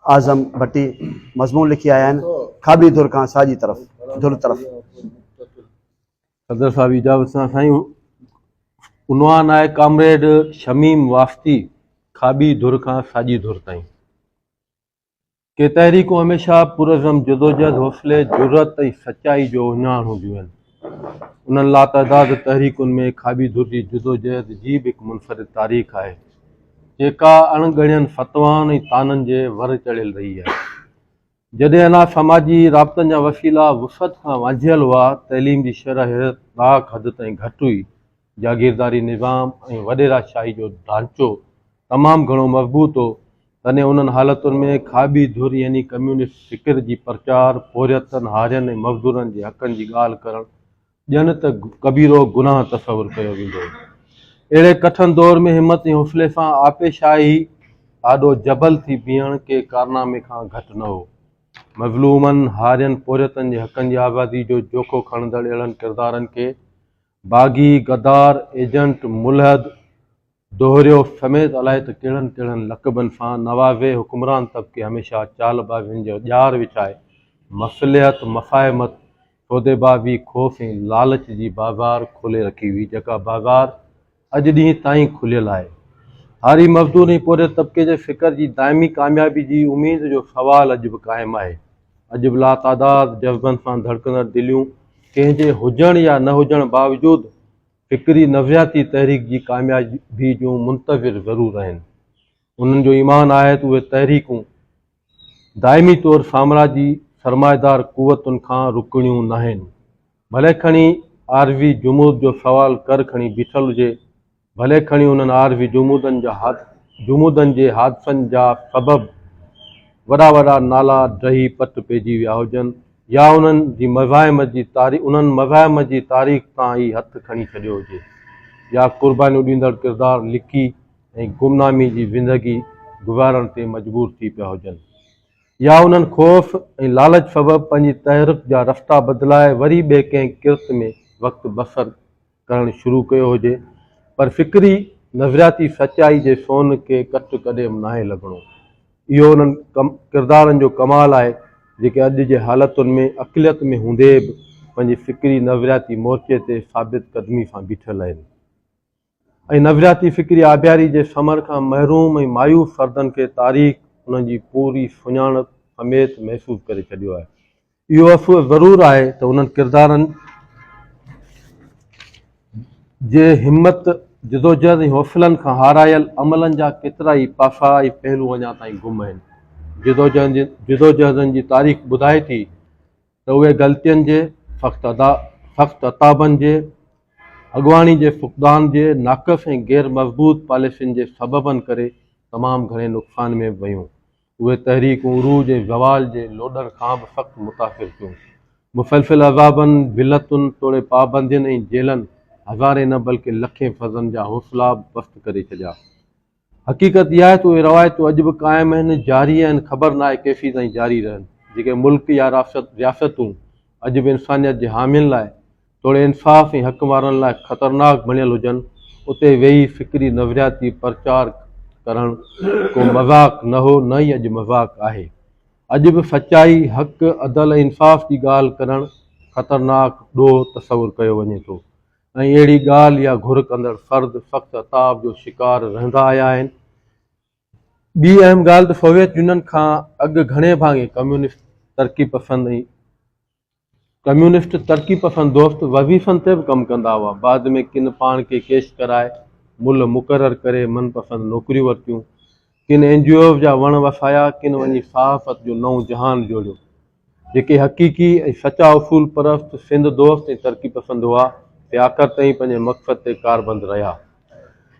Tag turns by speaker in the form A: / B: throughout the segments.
A: اعظم ڀٽي مضمون لکي آيا آهن کاٻي ڌر کان ساڄي طرف ڌر طرف
B: صدر صاحب اجازت سان سائين عنوان آهي ڪامريڊ شميم واسطي کاٻي ڌر کان ساڄي ڌر تائين ڪي تحريڪون هميشه پرعزم جدوجهد حوصلي جرت ۽ سچائي جو اهڃاڻ هونديون آهن انهن لاتعداد تحريڪن ۾ کاٻي ڌر جي جدوجهد جي به هڪ منفرد تاريخ آهي، جيڪا اڻ ڳڻين فتوائن ۽ طعنن جي ور چڙهيل رهي آهي. جڏهن انا سماجي رابطن جا وسيلا وسعت کان وانجهيل هئا، تعليم جي شرح حيرت ناڪ حد تائين گهٽ هئي، جاگيرداري نظام ۽ وڏيرا شاهي جو ڍانچو تمام گهڻو مضبوط هو، تڏهن انهن حالتن ۾ کاٻي ڌر يعني ڪميونسٽ فڪر جي پرچار، پورهيتن، هارين ۽ مزدورن جي حقن جي ڳالهه ڪرڻ ڄڻ ته ڪبيرو گناهه تصور ڪيو ويندو هو. اهڙي ڪٺن دور ۾ همت ۽ حوصلي سان آپي شاهي آڏو جبل ٿي بيهڻ ڪنهن ڪارنامي کان گهٽ نه هو. مظلومن، هارين، پورهيتن جي حقن جي آزادي جو جوکو کڻندڙ اهڙن ڪردارن کي باغي، غدار، ايجنٽ، ملحد، دوهريو، سميت الائي ته ڪهڙن ڪهڙن لقبن سان نوازي حڪمران طبقي هميشه چال بازين جو ڄار وڇائي مصلحت، مفاهمت، سوديبازي، خوف ۽ لالچ جي بازار کولي رکي هئي جيڪا بازار اڄ ڏينهن تائين کليل آهي. هاري مزدور ۽ پورهيت طبقي جي فڪر جي دائمي ڪاميابي جي اميد جو سوال اڄ به قائم آهي. اڄ به لاتعداد جذبن سان ڌڙڪندڙ دليون ڪنهن جي هجڻ يا نه هجڻ باوجود فڪري نفسياتي تحريڪ جي ڪاميابي جون منتظر ضرور آهن. انهن جو ايمان آهي ته اهي تحريڪون دائمي طور سامراجي سرمائيدار قوتن کان رڪڻيون ناهن. ڀلي کڻي عارضي جمود جو سوال ڪر کڻي بيٺل هجي ڀلي کڻي انهن عارضي جمودن جا هاٿ جمودن جي حادثن جا سبب وڏا وڏا نالا ڊهي پٽ پئجي ويا هجن يا انهن جي مزاحمت جي تاري انهن مزاحمت جي تاريخ تان ئي هٿ کڻي ڇڏيو هجي يا قربانيون ڏيندڙ ڪردار لڪي ۽ گمنامي جي زندگي گذارڻ تي مجبور ٿي پيا هجن يا انهن خوف ۽ لالچ سبب پنهنجي تحرڪ جا رستا بدلائي وري ٻئي ڪنهن ڪرت ۾ وقت بسر ڪرڻ شروع ڪيو هجي پر فڪري نظرياتي سچائي جي سون کي ڪٽ ڪڏيم ناهي لڳڻو. اهو انهن ڪردارن جو ڪمال آهي جيڪي اڄ جي حالتن ۾ اقليت ۾ هوندي به پنهنجي فڪري نظرياتي مورچي تي ثابت قدمي سان بيٺل اهن ۽ نظرياتي فڪري آبياري جي ثمر کان محروم ۽ مايوس فردن کي تاريخ انهن جي پوري سڃاڻپ سميت محسوس ڪري ڇڏيو آهي. اهو افسوس ضرور آهي ته انهن ڪردارن جي همت، جدوجهد ۽ حوصلن کان هارايل عملن جا ڪيترائي پاسا ۽ پهلو اڃا تائين گم آهن. جدوجهدن جي تاريخ ٻڌائي ٿي ته اهي غلطين جي، سخت عتابن جي، اڳواڻي جي فقدان جي، ناقص ۽ غير مضبوط پاليسين جي سببن ڪري تمام گهڻي نقصان ۾ ويون. اهي تحريڪون عروج ۽ زوال جي لوڏن کان به سخت متاثر ٿيون. مسلسل عذابن، ذلتن توڙي پابندين ۽ جيلن هزارين نه بلڪه لکين فرضن جا حوصلا به پست ڪري ڇڏيا. حقيقت اها آهي ته اهي روايتون اڄ به قائم آهن، جاري آهن، خبر ناهي ڪيسين تائين جاري رهن. جيڪي ملڪ يا رياستون اڄ به انسانيت جي حامين لاء توڙي انصاف ۽ حق وارن لاء خطرناڪ بڻيل هجن، اتي ويهي فڪري نظرياتي پرچار ڪرڻ ڪو مذاق نه هو نه ئي اڄ مذاق آهي. اڄ به سچائي، حق، عدل ۽ انصاف جي ڳالهه ڪرڻ خطرناڪ ڏوهه تصور ڪيو وڃي ٿو ۽ اهڙي ڳالهه يا گهر ڪندڙ فرد سخت عتاب جو شڪار رهندا آيا آهن. ٻي اهم ڳالهه ته سوويت يونين کان اڳ گهڻي ڀاڱي ڪميونسٽ، ترقي پسند ۽. ڪميونسٽ ترقي پسند دوست وظيفن تي به ڪم ڪندا هئا. بعد ۾ ڪن پاڻ کي ڪيش ڪرائي ملهه مقرر ڪري من پسند نوڪريون ورتيون. ڪن اين جي اوز جا وڻ وسايا، ڪن وڃي صحافت جو نئون جهان جوڙيو. جيڪي حقيقي ۽ سچا اصول پرست، سنڌ دوست ۽ ترقي پسند هئا، سي آخر تائين پنهنجي مقصد تي ڪاربند رهيا.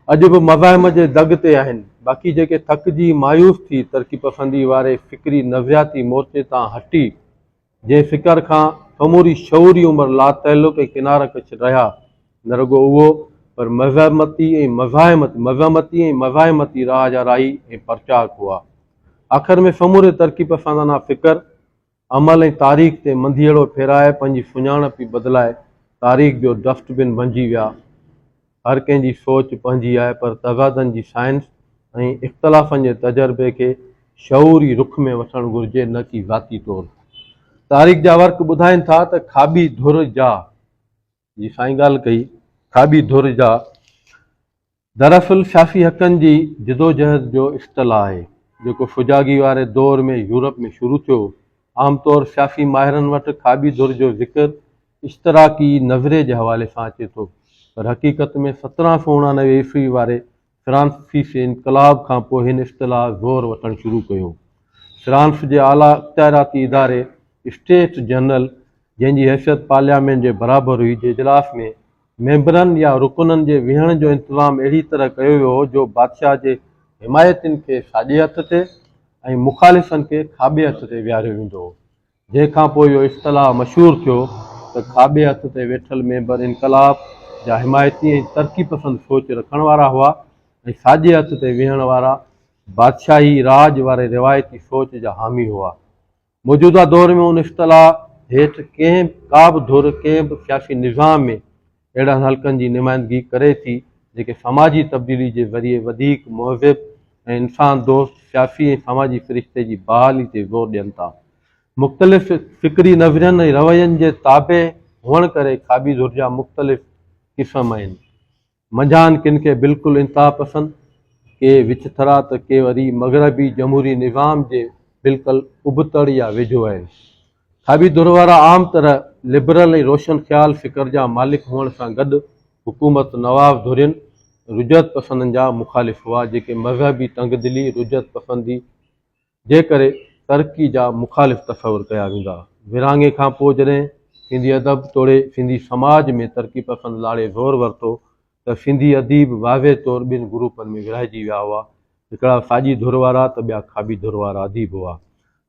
B: اڄ به مزاحم جي دڳ تي آهن. باقي جيڪي ٿڪجي مايوس ٿي ترقي پسندي واري فڪري نظرياتي مورچي تان هٽي، جنهن فڪر کان سموري شعوري عمر لاتعلق ۽ ڪناره ڪش رهيا، نه رڳو اهو پر مزاحمتي ۽ مزاحمتي مزاحمتي ۽ مزاحمتي راهه جا راهي ۽ پرچار هئا. آخر ۾ سموري ترقي پسندانه فڪر، عمل ۽ تاريخ تي منڌيئڙو ڦيرائي پنهنجي سڃاڻپ ئي بدلائي تاريخ جو ڊسٽ بن بنجي ويا. هر ڪنهن جي سوچ پنهنجي آهي پر تضادن جي سائنس ۽ اختلافن جي تجربي کي شعوري رخ ۾ وٺڻ گهرجي نه ڪي ذاتي طور. تاريخ جا ورق ٻڌائين ٿا ته کاٻي ڌر جا جي سائين ڳالهه ڪئي کاٻي ڌر جا دراصل سياسي حقن جي جدوجهد جو اصطلاح آهي جيڪو فجاڳي واري دور ۾ يورپ ۾ شروع ٿيو عام طور سياسي ماهرن وٽ کاٻي ڌر جو ذڪر اشتراڪي نظرئي جي حوالي سان اچي ٿو پر حقيقت ۾ سترهن سؤ اڻانوي عيسوي واري فرانسيسي انقلاب کان پوء هن اصطلاح زور وٺڻ شروع ڪيو. فرانس جي اعليٰ اختياراتي اداري اسٽيٽس جنرل جنهن جي حيثيت پارليامينٽ جي برابر هئي جي اجلاس ۾ ميمبرن يا رڪنن جي ويهڻ جو انتظام اهڙي طرح ڪيو ويو هو جو بادشاهه جي حمايتين کي ساڄي هٿ تي ۽ مخالفن کي کاٻي هٿ تي ويهاريو ويندو هو. جنهن کان پوء اهو اصطلاح مشهور ٿيو ته کاٻي هٿ تي ويٺل ميمبر انقلاب جا حمايتي ۽ ترقي پسند سوچ رکڻ وارا هئا ۽ ساڄي هٿ تي ويهڻ وارا بادشاهي راڄ واري روايتي سوچ جا حامي هئا. موجوده دور ۾ ان اصطلاح هيٺ ڪنهن ڪا به ڌر ڪنهن به سياسي نظام ۾ اهڙن حلقن جي نمائندگي ڪري ٿي جيڪي سماجي تبديلي جي ذريعي وڌيڪ مهذب ۽ انسان دوست سياسي ۽ سماجي سرشتي جي بحالي تي زور ڏين ٿا. مختلف فڪري نظرين ۽ روين جي تابع هئڻ ڪري کاٻي ڌر جا مختلف قسم آهن. منجهان ڪن کي بلڪل انتها پسند، ڪي وچ ٿرا ته ڪي وري مغربي جمهوري نظام جي بلڪل ابتڙ يا ويجهو آهن. ابي ڌر وارا عام طرح لبرل ۽ روشن خيال فڪر جا مالڪ هئڻ سان گڏ حڪومت نواب ڌرين، رجعت پسندن، جا مخالف هئا جيڪي مذهبي تنگدلي، رجعت پسندي، جي ڪري ترقي جا مخالف تصور ڪيا ويندا. ورهاڱي کان پوء جڏهن سنڌي ادب توڙي سنڌي سماج ۾ ترقي پسند لاڙي زور ورتو ته سنڌي اديب واضح طور ٻن گروپن ۾ ورهائجي ويا هئا، هڪڙا ساڄي ڌر وارا ته ٻيا کاٻي ڌر وارا اديب هئا.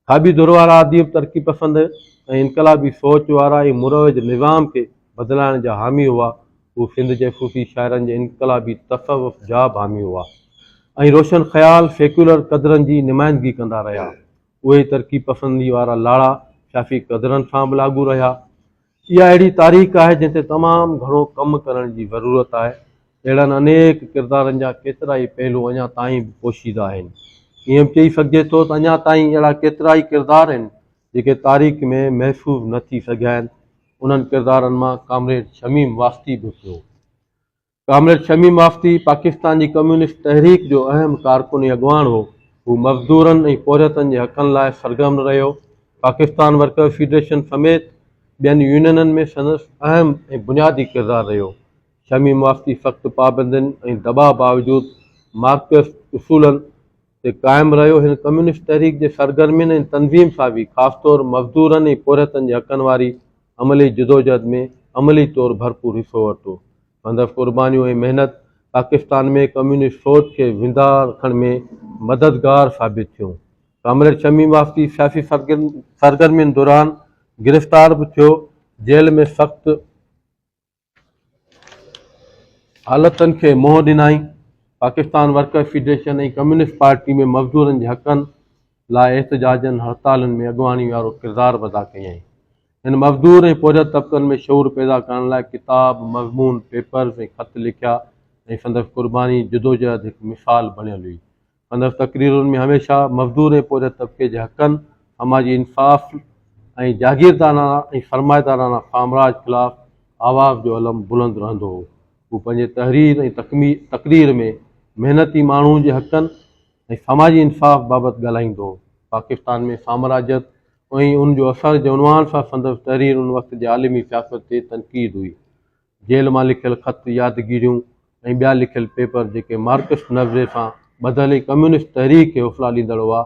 B: کاٻي ڌر وارا اديب ترقي پسند ۽ انقلابي سوچ وارا ۽ مروج نظام کي بدلائڻ جا حامي هئا، هو سنڌ جي صوفي شاعرن جي انقلابي تصوف جا به حامي هئا ۽ روشن خيال سيڪيولر قدرن جي نمائندگي ڪندا رهيا. اهي ئي ترقي پسندي وارا لاڙا صافي قدرن سان به لاڳو رهيا. اها اهڙي تاريخ آهي جنهن تي تمام گهڻو ڪم ڪرڻ جي ضرورت آهي. اهڙن انيڪ ڪردارن جا ڪيترائي پهلو اڃا تائين به پوشيده آهن. ائين به چئي سگهجي ٿو ته اڃا تائين اهڙا ڪيترائي ڪردار آهن جيڪي تاريخ ۾ محفوظ نه ٿي سگهيا آهن. انهن ڪردارن مان ڪامريڊ شميم واسطي به هڪ هو. ڪامريڊ شميم آفتي پاڪستان جي ڪميونسٽ تحريڪ جو اهم ڪارڪن ۽ اڳواڻ هو. هو مزدورن ۽ پورهيتن جي حقن لاء سرگرم رهيو. پاڪستان ورڪرز فيڊريشن سميت ٻين يونينن ۾ سندس اهم ۽ بنيادي ڪردار رهيو. شميم آفتي سخت پابندين ۽ دٻاء باوجود مارڪسسٽ اصولن، تي قائم رهيو. هن ڪميونسٽ تحريڪ جي سرگرمين ۽ تنظيم سازي خاص طور مزدورن ۽ پورهيتن جي حقن واري عملي جدوجهد ۾ عملي طور ڀرپور حصو ورتو. سندس قربانيون ۽ محنت پاڪستان ۾ ڪميونسٽ سوچ کي زنده رکڻ ۾ مددگار ثابت ٿيون. ڪامريڊ شميم واسطي سياسي سرگرمين دوران گرفتار به ٿيو، جيل ۾ سخت. حالتن کي منهن ڏنائين، Pakistan workers federation ۽ communist party ۾ مزدورن جي حقن لاء احتجاجن هڙتالن ۾ اڳواڻي وارو ڪردار به ادا ڪيائين. هن مزدور ۽ پورهيت طبقن ۾ شعور پيدا ڪرڻ لاء ڪتاب، مضمون، پيپرز ۽ خط لکيا ۽ سندس قرباني جدوجهد هڪ مثال بڻيل هئي. سندس تقريرن ۾ هميشه مزدور ۽ پورهيت طبقي جي حقن، سماجي انصاف ۽ جاگيردارانه ۽ سرمائيدارانه سامراج خلاف آواز جو علم بلند رهندو هو. هو پنهنجي تحرير ۽ تقرير ۾ محنتي ماڻهو جي حقن ۽ سماجي انصاف بابت ڳالهائيندو هو. پاڪستان ۾ سامراجيت ۽ ان جو اثر جي عنوان سان سندس تحرير ان وقت جي عالمي سياست تي تنقيد هئي. جيل مان لکيل خط، يادگيريون ۽ ٻيا لکيل پيپر جيڪي مارڪسٽ نظرئي سان ٻڌل ۽ ڪميونسٽ تحريڪ کي حوصلا ڏيندڙ هئا،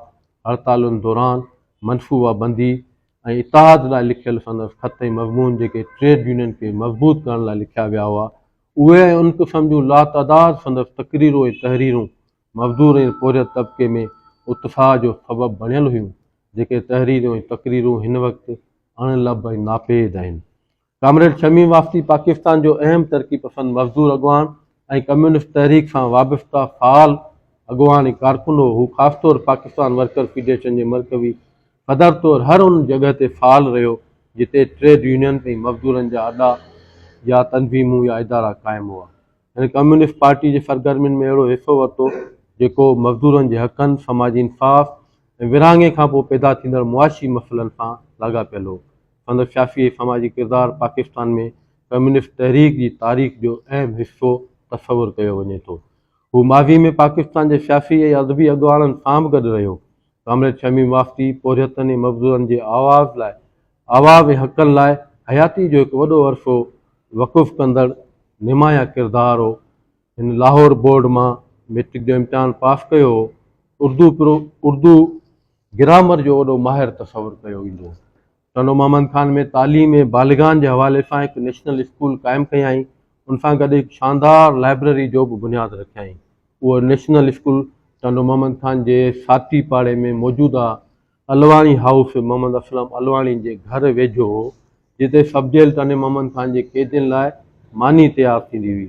B: هڙتالن دوران منصوبه بندي ۽ اتحاد لاء لکيل سندس خط ۽ مضمون جيڪي ٽريڊ يونين کي مضبوط ڪرڻ لاء لکيا ويا هئا، اهي ۽ ان قسم جون لاتعداد سندس تقريرون ۽ تحريرون مزدور ۽ پورهيت طبقي ۾ اتساهه جو سبب بڻيل هيون، جيڪي تحريرون ۽ تقريرون هن وقت اڻ لڀ ۽ ناپيد آهن. ڪامريڊ شميم واسطي پاڪستان جو اهم ترقي پسند مزدور اڳواڻ ۽ ڪميونسٽ تحريڪ سان وابسته فعال اڳواڻ ۽ ڪارڪن هو. هو خاص طور پاڪستان ورڪر فيڊريشن جي مرڪوي صدر طور هر ان جڳهه تي فعال رهيو جتي ٽريڊ يونين ۽ مزدورن جا اڏا يا تنظيمون يا ادارا قائم هئا. هن ڪميونسٽ پارٽي جي سرگرمين ۾ اهڙو حصو ورتو جيڪو مزدورن جي حقن، سماجي انصاف ۽ ورهاڱي کان پوء پيدا ٿيندڙ معاشي مسئلن سان لاڳاپيل هو. سندس سياسي ۽ سماجي ڪردار پاڪستان ۾ ڪميونسٽ تحريڪ جي تاريخ جو اهم حصو تصور ڪيو وڃي ٿو. هو ماضي ۾ پاڪستان جي سياسي ۽ ادبي اڳواڻن سان به گڏ رهيو. ڪامريڊ شميم واسطي پورهيتن ۽ مزدورن جي آواز لاء عوامي حقن لاء حياتي جو هڪ وڏو عرصو وقف ڪندڙ نمايان ڪردار هو. هن لاهور بورڊ مان ميٽرڪ جو امتحان پاس ڪيو هو. اردو پرو اردو گرامر جو وڏو ماهر تصور ڪيو ويندو هو. ٽنڊو محمد خان ۾ تعليم بالغان جي حوالي سان هڪ نيشنل اسڪول قائم ڪيائين. ان سان گڏ هڪ شاندار لائبرري جو به بنياد رکيائين. اهو نيشنل اسڪول ٽنڊو محمد خان جي ساٿي پاڙي ۾ موجوده علواڻي هائوس محمد اسلم علواڻي جي گهر ويجهو هو، جتي سب جيل تني محمد خان جي قيدين لاء ماني تيار ٿيندي هئي.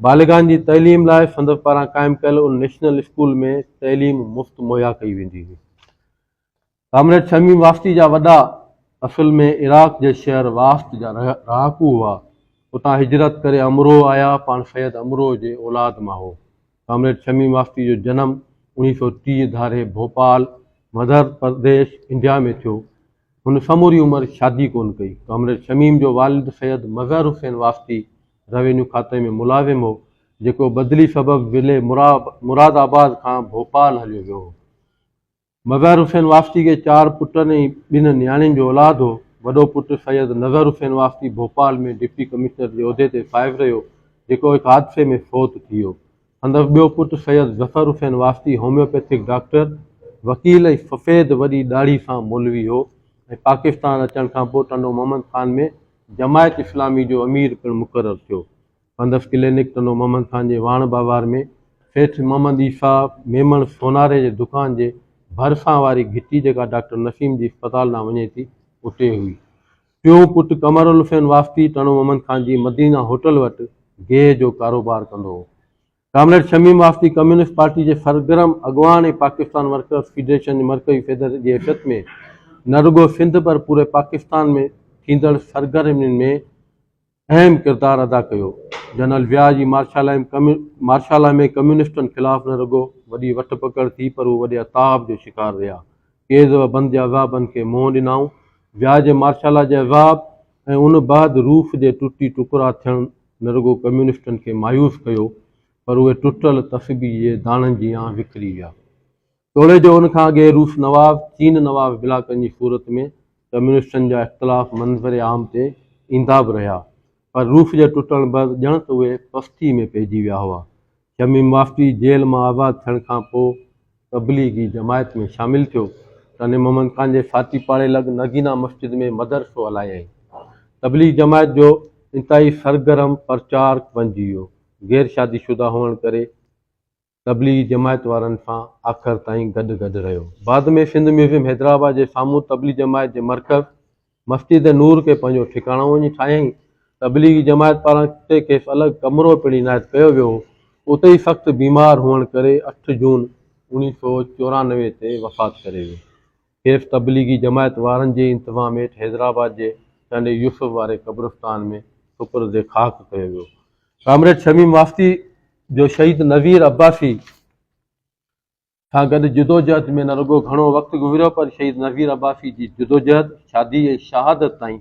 B: بالغان جي تعليم لاء سندس پاران قائم ڪيل ان نيشنل اسڪول ۾ تعليم مفت مهيا ڪئي ويندي هئي. ڪامريڊ شميم واسطي جا وڏا اصل ۾ عراق جي شهر واسط جا رهاڪو هئا. اتان هجرت ڪري امروهه آيا، پاڻ سيد امروهه جي اولاد مان هو. ڪامريڊ شميم واسطي جو جنم اوڻيهه سؤ ٽيهه ڌاري ڀوپال، مڌر پرديش، انڊيا ۾ ٿيو. هن سموري عمر شادي ڪونه ڪئي. ڪامريڊ شميم جو والد سيد مظهر حسين واسطي روينيو کاتي ۾ ملازم هو، جيڪو بدلي سبب ضلعي مراد آباد کان ڀوپال هليو ويو هو. مظهر حسين واسطي کي چار پٽن ۽ ٻن نياڻين جو اولاد هو. وڏو پٽ سيد نظهر حسين واسطي ڀوپال ۾ ڊپٽي ڪمشنر جي عهدي تي فائز رهيو، جيڪو هڪ حادثي ۾ فوت ٿي ويو. سندس ٻيو پٽ سيد ظفر حسين واسطي هوميوپيٿڪ ڊاڪٽر، وڪيل ۽ سفيد وڏي ڏاڙهي سان مولوي هو ۽ پاڪستان اچڻ کانپوء ٽنڊو محمد خان ۾ جماعت اسلامي جو امير پڻ مقرر ٿيو. پندس ڪلينڪ ٽنو محمد خان جي واڻ باوار ۾ سيٺ محمد عيسيٰ ميمڻ سوناري جي دڪان جي ڀرسان واري گهٽي جيڪا ڊاڪٽر نسيم جي اسپتال ڏانهن وڃي ٿي اتي هئي. ٽيون پٽ قمر الحسين واسطي ٽنو محمد خان جي مدينه هوٽل وٽ گيهه جو ڪاروبار ڪندو هو. Comrade Shamim Wasti communist party جي سرگرم اڳواڻ ۽ پاڪستان ورڪرس فيڊريشن جي مرڪزي صدر جي حيثيت ۾ نه رڳو سنڌ پر پوري پاڪستان ۾ ٿيندڙ سرگرمين ۾ اهم ڪردار ادا ڪيو. جنرل ويا جي مارشالا ۾ ڪميونسٽن خلاف نه رڳو وڏي وٺ پڪڙ ٿي پر هو وڏي عتاب جو شڪار رهيا. قيد و بند جا عذابن کي منهن ڏنائون. ويا جي مارشالا جي عذاب ۽ ان بعد روس جي ٽٽي ٽڪرا ٿيڻ نه رڳو ڪميونسٽن کي مايوس ڪيو پر اهي ٽٽل تسبيح جي داڻن جيان وکري ويا. توڙي جو ان کان اڳي روس نواب، چين نواب بلاڪن جي صورت ۾ ڪميونسٽن جا اختلاف منظر عام تي ايندا به رهيا پر روس جي ٽٽڻ بعد ڄڻ ته اهي پستي ۾ پئجي ويا هئا. شميم وافدي جيل مان آزاد ٿيڻ کان پوء تبليغي جماعت ۾ شامل ٿيو تڏهن محمد خان جي ساٿي پاڙي لڳ نگينا مسجد ۾ مدرسو هلايائين. تبليغ جماعت جو انتهائي سرگرم پرچارڪ بنجي ويو. غير شادي شده هئڻ ڪري تبليغي جماعت وارن سان آخر تائين گڏ گڏ رهيو. بعد ۾ سنڌ ميوزيم حيدرآباد جي سامهون تبليغي جماعت جي مرڪز مسجد نور کي پنهنجو ٺڪاڻو وڃي ٺاهيائين. تبليغي جماعت پاران اتي کيس الڳ ڪمرو پڻ عنايت ڪيو ويو هو. اتي ئي سخت بيمار هئڻ ڪري اٺ جون اڻيهه سؤ چورانوي تي وفات ڪري ويو. صرف تبليغي جماعت وارن جي انتظام هيٺ حيدرآباد جي چانڊئي يوسف واري قبرستان ۾ سپرد خاڪ ڪيو ويو. ڪامريڊ شميم واسطي جو شهيد نذير عباسي سان گڏ جدوجهد ۾ نه رڳو گهڻو وقت گذريو پر شهيد نذير عباسي جي جدوجهد، شادي ۽ شهادت تائين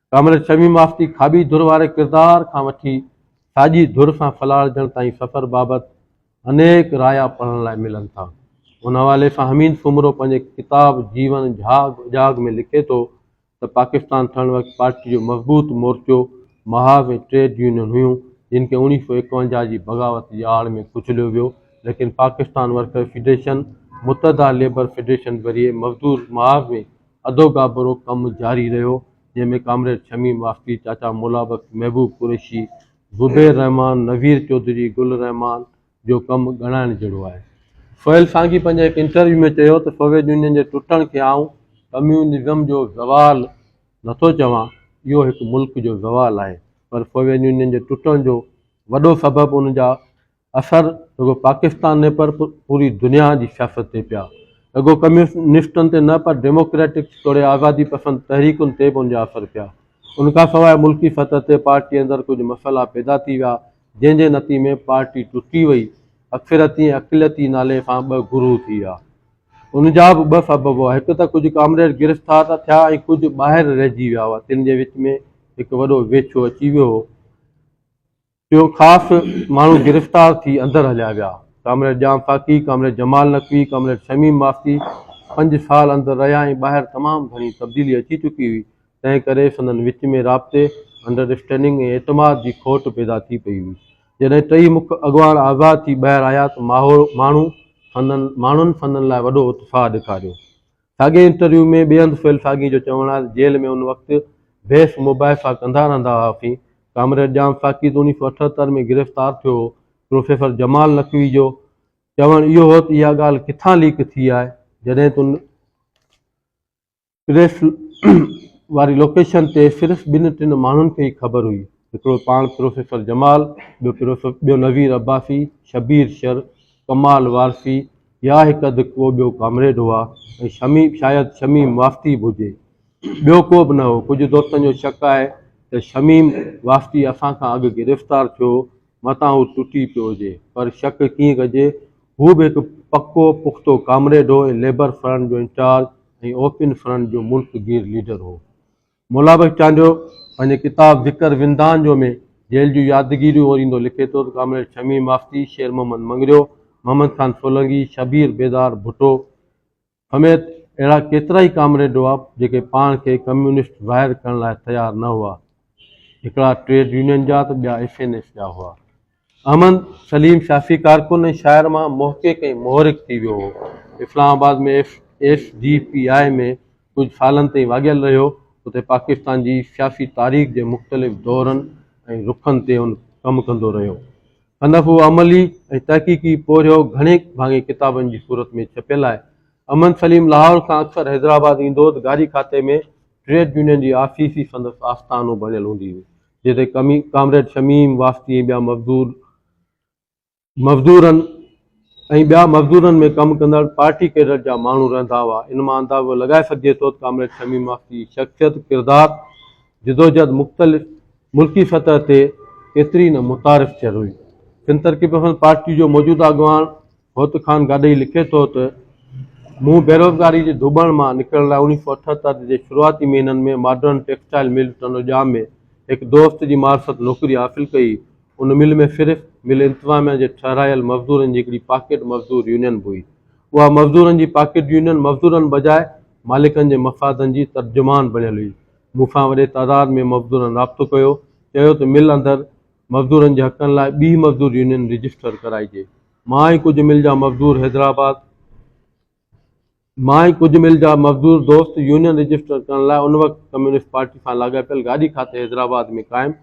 B: ڪامريڊ شميم آفتي کاٻي ڌر واري ڪردار کان وٺي ساڄي ڌر سان ڦلاڙجڻ تائين سفر بابت انيڪ رايا پڙهڻ لاء ملن ٿا. ان حوالي سان حميد سومرو پنهنجي ڪتاب جيون جهاڳ اجهاڳ ۾ لکي ٿو ته پاڪستان ٺهڻ وقت پارٽي جو مضبوط مورچو محاذ ۽ ٽريڊ يونين هيون جن کي اوڻيهه سؤ ايڪونجاهه جي بغاوت جي آڙ ۾ ڪچليو ويو ليڪن Pakistan worker federation, Muttahida labour federation ذريعي مزدور محاذ ۾ اڌو گابرو ڪم جاري رهيو، جنهن ۾ ڪامريڊ شميم واسطي، چاچا مولا بخش، محبوب قريشي، زبير رحمان، نوير چوڌري، گل الرحمان جو ڪم ڳڻائڻ جهڙو آهي. سهيل سانگي پنهنجي هڪ انٽرويو ۾ چيو ته سوويت يونين جي ٽٽڻ کي آئون ڪميونزم جو زوال نٿو چوان، اهو هڪ ملڪ جو زوال آهي، پر سوويت يونين جي ٽٽڻ جو وڏو سبب ان جا اثر رڳو پاڪستان نه پر پوري دنيا جي سياست تي پيا. رڳو ڪميونسٽن تي نه پر ڊيموڪريٽڪس توڙي آزادي پسند تحريڪن تي به ان جا اثر پيا. ان کان سواء ملڪي سطح تي پارٽي اندر ڪجهه مسئلا پيدا ٿي ويا جنهن جي نتيجي ۾ پارٽي ٽٽي وئي. اڪثريتي ۽ اقليتي نالي سان ٻه گروهه ٿي ويا. ان جا به ٻه سبب هئا هڪ ته ڪجهه ڪامريڊ گرفتار ته ٿيا ۽ ڪجهه ٻاهر رهجي ويا هئا تن جي وچ ۾ هڪ وڏو ويڇو اچي ويو هو. اهو خاص ماڻهو گرفتار ٿي اندر هليا ويا. Comrade Jam Khaki, comrade Jamal Naqvi, comrade Shamim Masti پنج سال اندر رهيا ۽ ٻاهر تمام گهڻي تبديلي اچي چڪي هئي، تنهن ڪري سندن وچ ۾ رابطي، انڊرسٽينڊنگ ۽ اعتماد جي کوٽ پيدا ٿي پئي هئي. جڏهن ٽئي مک اڳواڻ آزاد ٿي ٻاهر آيا ته ماڻهو سندن ماڻهن سندن لاء وڏو اتساهه ڏيکاريو. ساڳئي انٽرويو ۾ ٻئي هنڌ سهيل ساڳي جو چوڻ آهي ته جيل ۾ ان وقت بحث مباحثا ڪندا رهندا هئاسين. ڪامريڊ ڄام ساقي ته اوڻيهه سؤ اٺهتر ۾ گرفتار ٿيو هو. پروفيسر جمال نقوي جو چوڻ اهو هو ته اها ڳالهه ڪٿان ليڪ ٿي آهي جڏهن ته ان پريس واري لوڪيشن تي صرف ٻن ٽن ماڻهن کي ئي خبر هئي، هڪڙو پاڻ پروفيسر جمال، ٻيو نظير عباسي، شبير شر، ڪمال وارثي، يا هڪ اڌ ڪو ٻيو ڪامريڊ هئا ۽ شمي، شايد شميم واسطي به هجي. ٻيو ڪو به نه هو. ڪجهه دوستن جو شڪ آهي ته شميم واسطي اسان کان اڳ گرفتار ٿيو، متان هو ٽٽي پيو هجي. پر شڪ ڪيئن ڪجي؟ هو به هڪ پڪو پختو ڪامريڊ هو ۽ ليبر فرنٽ جو انچارج ۽ اوپن فرنٽ جو ملڪ گير ليڊر هو. مولا بخش چانڊيو پنهنجي ڪتاب ذڪر وندان جو ۾ جيل جون يادگيريون اوريندو لکي ٿو ته ڪامريڊ شميم مافتي، شير محمد مڱريو، محمد خان سولنگي، شبير بيدار ڀٽو سميت اهڙا ڪيترائي ڪامريڊ هئا جيڪي پاڻ کي ڪميونسٽ ظاهر ڪرڻ لاء تيار نه هئا. هڪڙا ٽريڊ يونين جا ته ٻيا ايس اين ايس جا هئا. احمد سليم شافعي ڪارڪن ۽ شاعر مان محقق ۽ مؤرخ ٿي ويو هو. Islamabad ۾ S D P I ۾ ڪجهه سالن تائين واڳيل رهيو. اتي پاڪستان جي سياسي تاريخ جي مختلف دورن ۽ رخن تي هن ڪم ڪندو رهيو. سندس اهو عملي ۽ تحقيقي پورهيو گهڻي ڀاڱي ڪتابن جي صورت ۾ ڇپيل آهي. احمد سليم لاهور کان اڪثر حيدرآباد ايندو هو ته گاري کاتي ۾ ٽريڊ يونين جي آفيس ئي سندس آستانو بڻيل هوندي هئي. جتي ڪامريڊ شميم واسطي ۽ ٻيا مزدور مزدورن ۽ ٻيا مزدورن ۾ ڪم ڪندڙ پارٽي ڪيڊر جا ماڻهو رهندا هئا. ان مان اندازو لڳائي سگهجي ٿو ته ڪامريڊ شميم واسطي جي شخصيت، ڪردار، جدوجهد مختلف ملڪي سطح تي ڪيتري نه متعارف ٿيل هئي. سنڌ ترقي پسند پارٽي جو موجوده اڳواڻ، هوت خان گاڏهي لکي ٿو ته، مون بيروزگاري جي ڌوٻڻ مان نڪرڻ لاء اوڻيهه سؤ اٺهتر جي شروعاتي مهينن ۾ ماڊرن ٽيڪسٽائيل مل ٽنڊوڄام ۾ هڪ دوست جي معرفت نوڪري حاصل ڪئي. ان مل ۾ صرف مل انتظاميا جي ٺهرايل مزدورن جي هڪڙي پاڪيٽ مزدور يونين به هئي. اها مزدورن جي پاڪيٽ يونين مزدورن بجاء مالڪن جي مفادن جي ترجمان بڻيل هئي. مون سان وڏي تعداد ۾ مزدورن رابطو ڪيو، چيو ته مل اندر مزدورن جي حقن لاء ٻيهه مزدور يونين رجسٽر ڪرائجي. مان ۽ ڪجهه مل جا مزدور حيدرآباد مان ۽ ڪجهه مل جا مزدور دوست يونين رجسٽر ڪرڻ لاء ان وقت ڪميونسٽ پارٽي سان لاڳاپيل گاڏي کاتي حيدرآباد ۾ قائم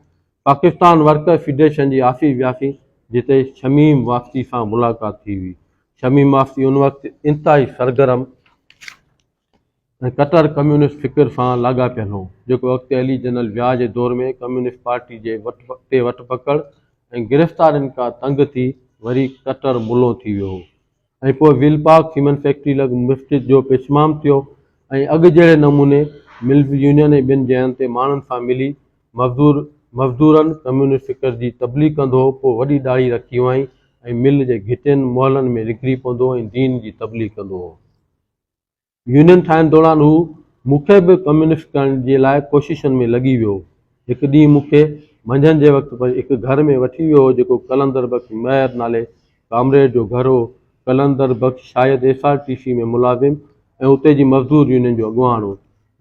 B: پاڪستان ورڪر فيڊريشن جي آفيس وياسين جتي شميم واسطي سان ملاقات ٿي هئي شميم واسطي ان وقت انتهائي سرگرم ۽ ڪٽر ڪميونسٽ فڪر سان لاڳاپيل هو، جيڪو اڳتي هلي جنرل ضياء جي دور ۾ ڪميونسٽ پارٽي جي وٽ تي وٽ پڪڙ ۽ گرفتارين کان تنگ ٿي وري ڪٽر ملون ٿي ويو هو ۽ پوء ويل پارڪ سيمنٽ فيڪٽري لڳ مسجد جو پشمام ٿيو ۽ اڳ جهڙي نموني ملز يونين ۽ ٻين جاين تي ماڻهن سان ملي مزدور مزدورن ڪميونسٽ فڪر جي تبليغ ڪندو هو پوء وڏي ڏاڙهي رکي هئائين ۽ مل جي گهٽين محلن ۾ نڪري پوندو ۽ دين جي تبليغ ڪندو هو. يونين ٺاهڻ دوران هو مون کي به ڪميونسٽ ڪرڻ جي لاء ڪوششن ۾ لڳي ويو. هڪ ڏينهن مون کي منجهند جي وقت هڪ گهر ۾ وٺي ويو هو جيڪو قلندر بخش مهر نالي ڪامريڊ جو گهر هو. قلندر بخش شايد ايس آر ٽي سي ۾ ملازم ۽ اتي جي مزدور يونين جو اڳواڻ هو.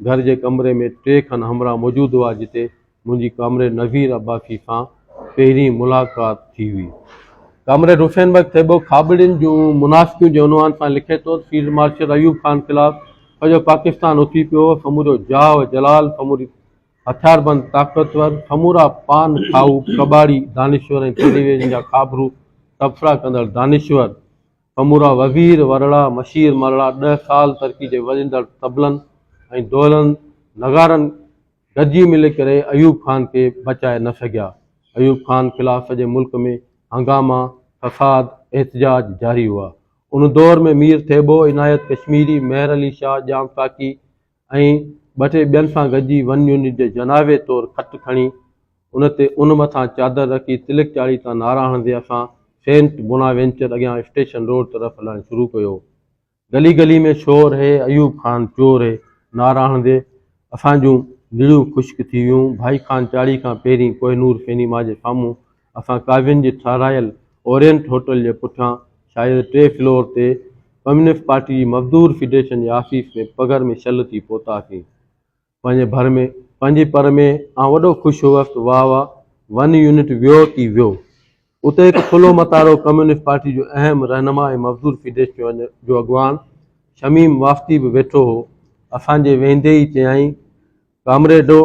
B: گهر جي ڪمري ۾ ٽي کن همراهه موجود هئا جتي منهنجي ڪامريڊ نوير عباسي سان پهرين ملاقات ٿي هئي. ڪامريڊ حسين بخش ٿيٻو کاٻڙين جون منافقيون جي عنوان سان لکي ٿو ته فيلڊ مارشل ايوب خان خلاف سڄو پاڪستان اٿي پيو هو، سمورو جاه و جلال، سموري هٿياربند طاقتور، سمورا پان کائو، ڪٻاڙي، دانشور ۽ ٽيلي ويزن جا خابرو تبصرا ڪندڙ دانشور، سمورا وزير ورڙا، مشير مرڙا ڏهه سال ترڪي جي وڄندڙ طبلن ۽ دهلن، نغارن گڏجي ملي ڪري ايوب خان کي بچائي نه سگهيا. ايوب خان خلاف سڄي ملڪ ۾ هنگاما، فساد، احتجاج جاري هئا. ان دور ۾ مير ٿيٻو، عنايت ڪشميري، مهر علي شاهه، ڄام ساقي، ۽ ٻه ٽي ٻين سان گڏجي ون يونٽ جي جنازي طور کٽ کڻي ان تي ان مٿان چادر رکي تلڪ چاڙهي تان نعرا هڻندي اسان سينٽ بونا وينچر اڳيان اسٽيشن روڊ طرف هلڻ شروع ڪيو. گلي گلي ۾ شور هي ايوب خان چور هي نعرا هڻندي اسان جون نڙيون خشڪ ٿي ويون. ڀائي خان چاڙهي کان پهرين ڪوهنور سينيما جي سامهون اسان قاضين جي ٺهرايل اورينٽ هوٽل جي پٺيان شايد ٽي فلور تي ڪميونسٽ پارٽي جي مزدور فيڊريشن جي آفيس ۾ پگهر ۾ شل ٿي پهتاسين. پنهنجي ڀر ۾ پنهنجي پر ۾ آئون وڏو خوش هوس ته واهه واهه ون يونٽ ويو ڪي ويو. اتي هڪ ٿلهو متارو ڪميونسٽ پارٽي جو اهم رهنما ۽ مزدور فيڊريشن جو اڳواڻ شميم واسطي به ويٺو هو. اسان جي ويهندي ئي چيائين ڪامريڊو،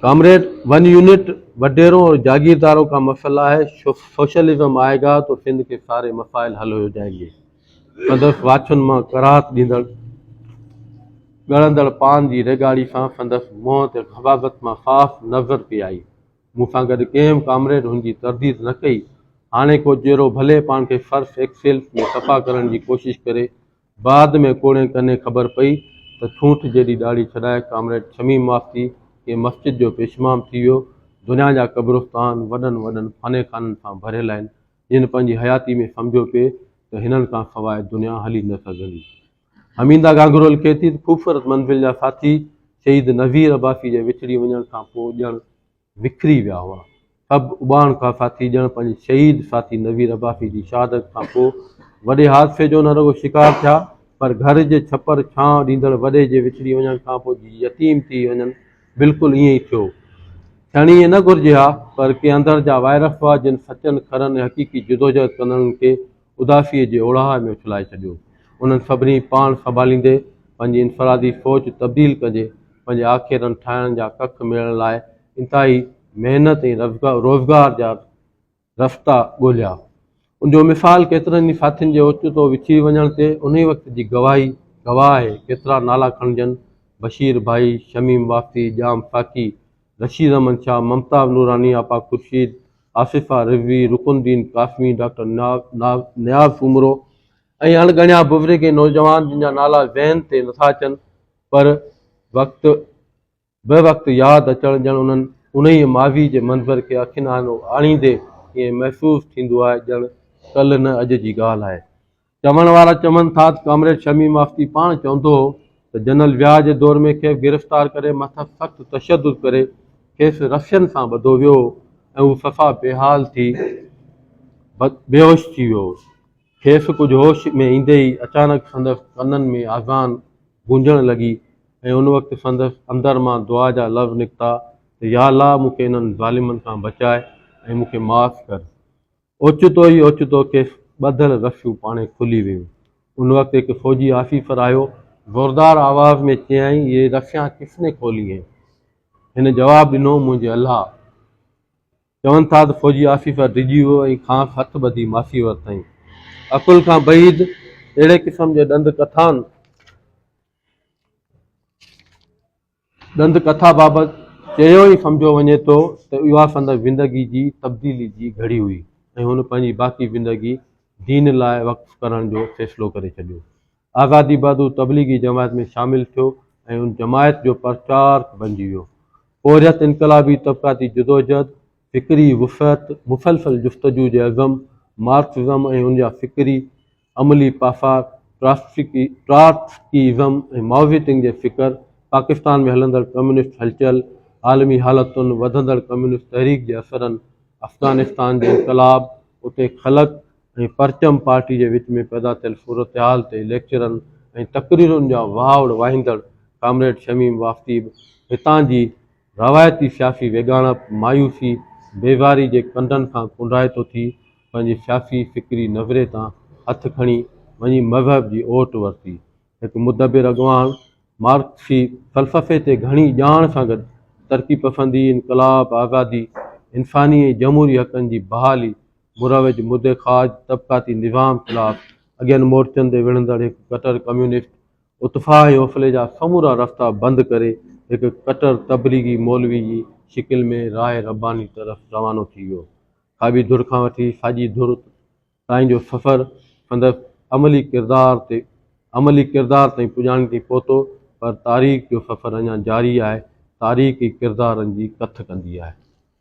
B: ڪامريڊ ون يونٽ وڏيرو اور جاگيردارو ڪا مسئلا هي، سوشلزم آئي گا تو سنڌ ڪي ساري مسائل حل هو جائين گي، سندس واڇن مان ڪراهت ڏيندڙ ڳڙندڙ پان جي ريڳاڙي سان سندس منهن تي غباغت مان صاف نظر پئي آئي. مون سان گڏ ڪنهن به ڪامريڊ هن جي ترديد نه ڪئي. هاڻي ڪو جيرو ڀلي پاڻ کي سرف ايڪسيل ۾ صفا ڪرڻ جي ڪوشش ڪري، بعد ۾ ڪوڙين ڪني خبر پئي ته ٺونٺ جيڏي ڏاڙهي ڇڏائي ڪامريڊ شميم ماستي ڪنهن مسجد جو پيشمام ٿي ويو. دنيا جا قبرستان وڏن وڏن فاني خانن سان ڀريل آهن، جن پنهنجي حياتي ۾ سمجهيو پئي ته هنن کان سواء دنيا هلي نه سگهندي. حميده گانگرو لکي ٿي ته خوبصورت منزل جا ساٿي شهيد نظير عباسي جي وڇڙي وڃڻ کان پوء ڄڻ وکري ويا هئا. سڀ اباڻ کان ساٿي ڄڻ پنهنجي شهيد ساٿي نوير عباسي جي شهادت کان پوء وڏي حادثي جو نه رڳو شڪار ٿيا پر گهر جي ڇپر ڇانء ڏيندڙ وڏي جي وڇڙي وڃڻ کان پوء جيئن يتيم ٿي وڃن بلڪل ائين ئي ٿيو. ٿيڻ ائين نه گهرجي ها پر ڪي اندر جا وائرس هئا جن سچن کرن ۽ حقيقي جدوجهد ڪندڙن کي اداسيء جي اوڙاهه ۾ اڇلائي ڇڏيو. انهن سڀني پاڻ سنڀاليندي پنهنجي انفرادي سوچ تبديل ڪجي پنهنجي آکيرن ٺاهڻ جا ڪک ميڙڻ لاء انتهائي محنت ۽ روزگار جا رستا ڳولهيا. ان جو مثال ڪيترن ئي ساٿين جي اوچتو وڇڙي وڃڻ تي انهي وقت جي گواهي گواهه آهي. ڪيترا نالا کڻجن، بشير ڀائي، شميم واسطي، ڄام ساقي، رشيد احمد شاهه، ممتاز نوراني، آپا خورشيد، آصفه رضوي، رڪن الدين قاسمي، ڊاڪٽر نياز سومرو ۽ اڻڳڻيا بزرگ ۽ نوجوان جن جا نالا ذهن تي نٿا اچن پر وقت به وقت ياد اچڻ ڄڻ انهن انهيء ماضي جي منظر کي اکين آڱو آڻيندي ائين محسوس ٿيندو آهي ڄڻ ڪلهه نه اڄ جي ڳالهه آهي. چوڻ وارا چون ٿا ته ڪامريڊ شميم آفتي پاڻ چوندو هو ته جنرل وياء جي دور ۾ کيس گرفتار ڪري مٿس سخت تشدد ڪري کيس رسين سان ٻڌو ويو هو ۽ هو صفا بي حال ٿي بيهوش ٿي ويو هو. کيس ڪجهه هوش ۾ ايندي ئي اچانڪ سندس ڪنن ۾ آذان گونجڻ لڳي ۽ ان وقت سندس اندر مان دعا جا لفظ نڪتا ته ياالله مون کي انهن ظالمن کان بچاء ۽ مون کي معاف ڪر. اوچتو ئي اوچتو کيس ٻڌل رشيون پاڻهي کلي ويون. ان وقت هڪ فوجي آفيسر آيو. زوردار آواز ۾ چيائين، يي رشيان ڪس ني کولي هين؟ هن جواب ڏنو، منهنجي الله! چون ٿا ته فوجي آفيسر ڊڄي ويو ۽ کانئس هٿ ٻڌي ماسي ورتائين. عقل کان بعيد اهڙي قسم جي ڏند ڪٿان؟ ڏند ڪٿا بابت چيو ئي سمجهيو وڃي ٿو ته اها سندس زندگي جي تبديلي جي گهڙي هئي ۽ هن پنهنجي باقي زندگي دين لاء وقف ڪرڻ جو فيصلو ڪري ڇڏيو. آزادي بعد هو تبليغي جماعت ۾ شامل ٿيو ۽ ان جماعت جو پرچارڪ بنجي ويو. پورهيت انقلابي طبقاتي جدوجهد، فڪري وسعت، مسلسل جستجو جي عزم، مارڪسزم ۽ ان جا فڪري عملي پاسات، ٽراتسڪيزم ۽ مائوزيتنگ جي فڪر، پاڪستان ۾ هلندڙ ڪميونسٽ هلچل، عالمي حالتن، وڌندڙ ڪميونسٽ تحريڪ جي اثرن، افغانستان جي انقلاب، اتي خلق ۽ پرچم پارٽي جي وچ ۾ پيدا ٿيل صورتحال تي ليڪچرن ۽ تقريرن جا واهوڙ واهيندڙ ڪامريڊ شميم واسطي به هتان جي روايتي سياسي ويڳاڻپ، مايوسي، بيزاري جي ڪنڊن کان ڪنڊائتو ٿي پنهنجي سياسي فڪري نظرئي تان هٿ کڻي وڃي مذهب جي اوٽ ورتي. هڪ مدبر اڳواڻ مارڪسي فلسفي تي گهڻي ڄاڻ سان گڏ ترقي پسندي، انقلاب، آزادي، انساني ۽ جمهوري حقن جي بحالي، مروج مدي خواج طبقاتي نظام خلاف اڳين مورچن تي وڙهندڙ هڪ ڪٽر ڪميونسٽ اتفاح يوفلي جا سمورا رستا بند ڪري هڪ ڪٽر تبليغي مولوي جي شڪل ۾ راء رباني طرف روانو ٿي ويو. کاٻي ڌر کان وٺي ساڄي ڌر تائين جو سفر سندس عملي ڪردار تي عملي ڪردار تائين پڄاڻي تي پهتو پر تاريخ جو سفر اڃا جاري آهي، تاريخ ئي ڪردارن جي ڪٿ ڪندي آهي.